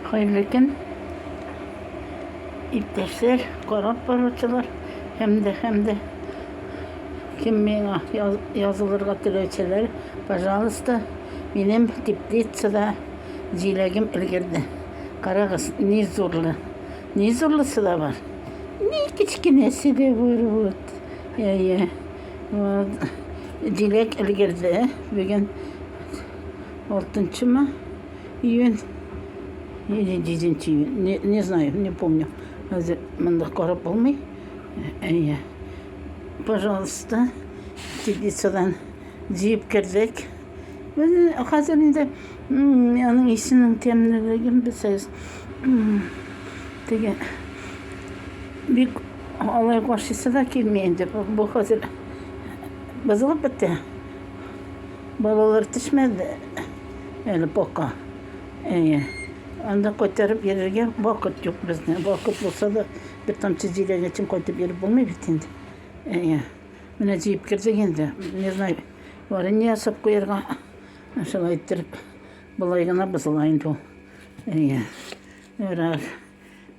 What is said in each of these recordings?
Хәерле көн, иптәшләр, карап баручылар һәм дә һәм дә кем миңа язылырга теләүчеләр, пожалуйста, минем теплицада җиләгем өлгерде. Карагыз, ни зурлы, ни зурлысы да бар, ни кечкенәсе дә бар. Вот. Я, я. Вот. Җиләк өлгерде. Бүген 6 ма? Июнь или 10 июнь, не, не знаю, не помню. Хәзер монда карап булмый. Әйе. Пожалуйста, теплицадан җыеп кердек. Хәзер инде аның исенең тәмлелеген белсәгез. Теге бик алай каршысы да килми инде. Бу хәзер бозылып бетте. Балалар төшмәде. Әле пока. Әйе. Анда кайтарып йөрергә вакыт юк безне. Вакыт булса да, бер тамчы җиләгә чын кайтып йөреп булмый бит инде. Әйе. Менә җыеп кердек инде. Не знаю, варенье ясап куярга. Шулай иттереп, болай гына бозыла инде ул. Әйе. Ярар.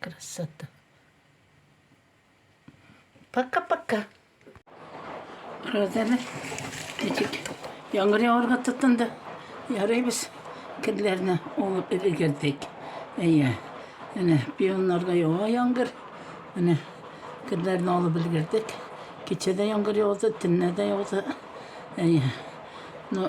Красота. Пока-пока. Розаны ничек яңгыр яварга тотынды. Ярый без кирләрне алып өлгердек. Әйе. Менә пионнарга ява яңгыр. Менә кирләрне алып өлгердек. Кичәдә яңгыр явды, төнлә дә явды. Әйе. Ну,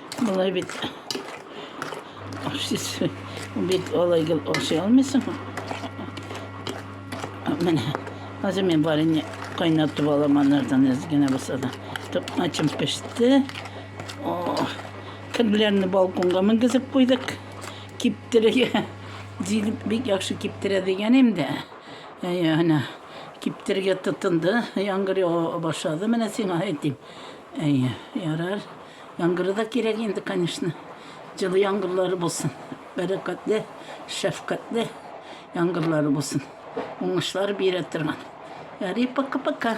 Болай бит ашсыз бит олай гел ашый алмыйсың. Менә хәзер мин барыны кайнатып алам анардан әз генә булса да. Токмачым пеште. Керләрне балконга менгезеп куйдык. Киптерергә җигеп бик яхшы киптерә дигән инде. Әйе, киптерергә тотынды. Яңгыр ява башлады. Менә сиңа әйтим. Әйе, ярар. Яңгыры да кирәк инде, конечно. Җылы яңгырлары булсын. Бәрәкәтле, шәфкатьле яңгырлары булсын. Уңышлар бирә торган. Ярый, пока-пока.